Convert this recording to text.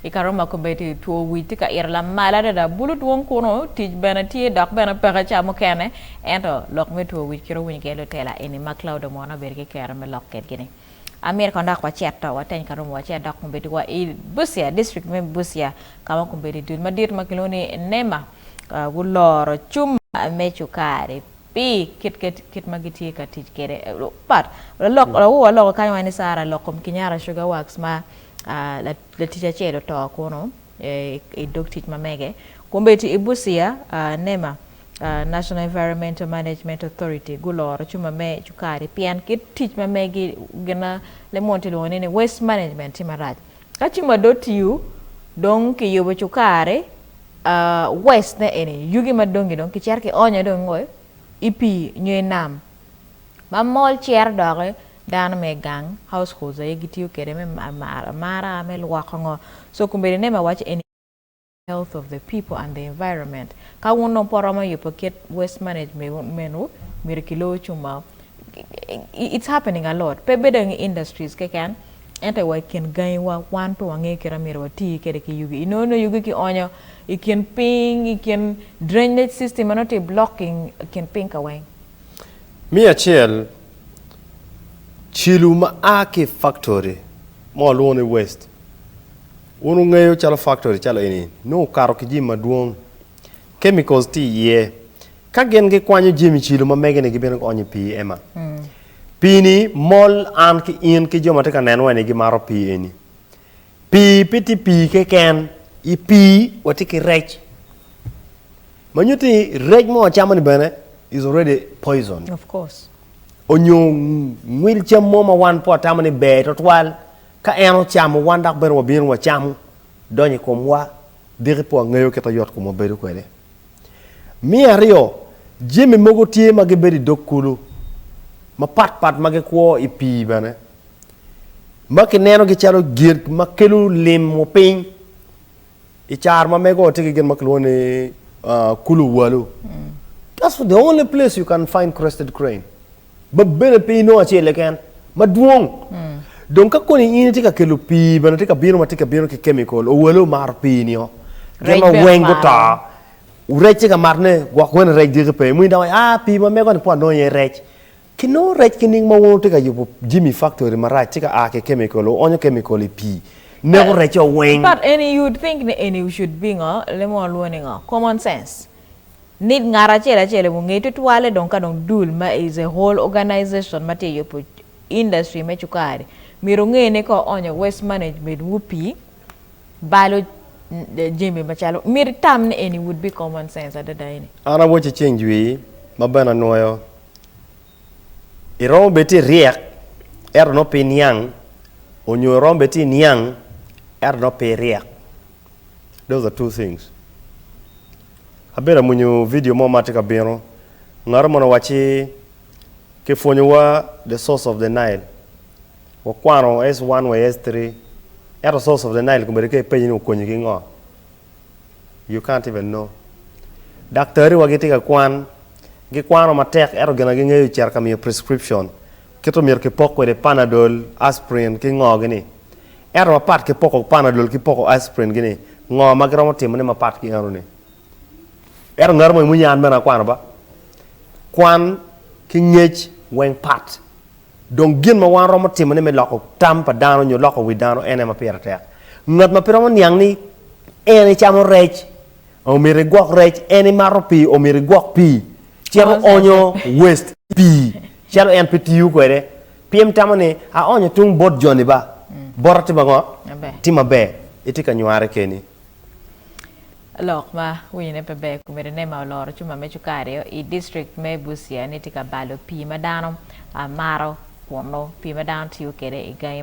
I kare ma komiti two wic tye ka ito lamal adada, bulu dwong kunnu tic bene tye dok bene peke ca mukene. Ento lok me two wic kit owinyo gee lutela eni ma Claude omwono abedo ki kero me lok kitgi ni. Amyero kong dok wacit to wateny ka romowa ce dok komiti wa i Busia, district me Busia ka ma komiti dul madit ma kilwongo ni NEMA guloro cum me cukari pi kit ke kit ma gitye ka tic kede. But, lalok, lawo wa loko kany wa ni Sarah lok kom Kinyara Sugar Works ma. latic acel oto kunu i dog tic ma mege. Kun bene i Busia, nema, National Environmental Management Authority, guloro cuma me cukari pien kit tic ma megi gin ma lemon tye lwongo ni waste management tye marac. Ka cuma dong otiyo, dong kiyubo cukari, waste ne eni, yugi madongi dong kicito kionyo dong i ngo? I pii nyo i nam. ma mol cito doki dano me gang households aye gitiyo kwede me amara me lwoko ngo so kombeddi ne ma waco eni health of the people and the environment ka wun dong pe wuromo yubo kit waste management wu myero ki loyo cung mao it's happening a lot pe bedo i industries keken ento wa i kin gangi wa wan pe wangeyo kit ma myero wati kwede ki yugi inongo nongo yugi ki onyo i kin piny i kin drainage system ma nongo tye blocking kin piny ka weng Me acel, celu ma a ki i faktori ma walwongo ni west, wun wungeyo calo faktori calo eni nongo okato ki jami madwong, chemicals tye iye. Ka gin gikwanyo jami celu ma mege-ni gibino gionyo i pii ema. Pii-ni mol an ki in ki jo ma tye ka nenowa-ni gimato pii eni. Pii pe tye pii keken, i pii watye ki rec ma nyuto ni rec ma wacamo ni bene is already poison. Of course. Onyo ngwil cam mo ma wan pe watamo ni ber twatwal ka en ocamo wan dok bene wabino wacamo donyo i komwa diki pe wangeyo kit ma yot komwa bedo kwede. Me aryo jami mogo tye ma gibedo i dog kulu mapatpat ma gikwo i pii bene. ma kinenogi calo gin ma kelo limo piny i caro ma mego tye ki gin ma kilwongo ni uh, kulu walu mm. That's the only place you can find crested crane ma bene pe inongo acel leken madwong mm. dong ka koni in itye ka kelo pii bene tye ka bino ma tye ka bino ki kemikol owale omaro pii nio gin ma weng guto rec tye ka matne gwok wene rec diki pe mui dawa a ah, pii ma mego ni po anongo iye rec Kinongo rec ki ning ma wun wutye ka yubo jami i faktori marac tye ka a ki kemikol, wuonyo kemikol i pii, neko recce weng. But eni you would think ni eni we should be ngo, lemo walwongo ni ngo, common sense. Need ngat acel acel i wunge tutwalle dong ka dong dul ma is a whole organization ma tye yubo industry me cukari myero onge ni ka oonyo waste management wu pii balo jami macalo myero itam ni eni would be common sense adada eni. An awaci ceng jwii ma bene anwoyo iromo bed ti ryek ento nongo pi niang onyo iromo bed ti niang ento nongo pi ryek those are two things abedo amwonyo vidio mo ma ti ka bino ngatu mono wacci ki pwonyo wa the source of the nile wakwano S1 wa S3 ento source of the nile komedo ka ipenyo ni okonyi ki ngo You can't even know. Daktari wa gitye ka kwan, gikwano matek ento gin ma gingeyo ocito ka miyo prescription kit omyero ki pok kwede panadol, aspirin ki ngo gi ni. Ento mapat ki poko panadol ki poko aspirin gi ni, ngo ma giromo timo ne mapat ki eno ni. Ento ngato mo i muni an bene akwano ba. Kwan ki ngec weng pat. Dong gin ma wan romo timone me loko tam pa dano nyo loko wi dano en aye ma pire tek. Ngat ma pe romo niang ni en icamo rec, omyero igwok rec, en imato pii, omyero igwok pii, cito onyo waste pii calo en pe tiyo kwede. Pyem tamo ni, aonyo tung bot joni ba, bota tye ma ngo? Tye maber. Itye ka nyware keni. Lok ma winyo ne pe ber kume Renema oloro cuma me cukari o i district me Busia ni tye ka balo pii ma dano maro kunu pii ma dano tiyo kwede i gangi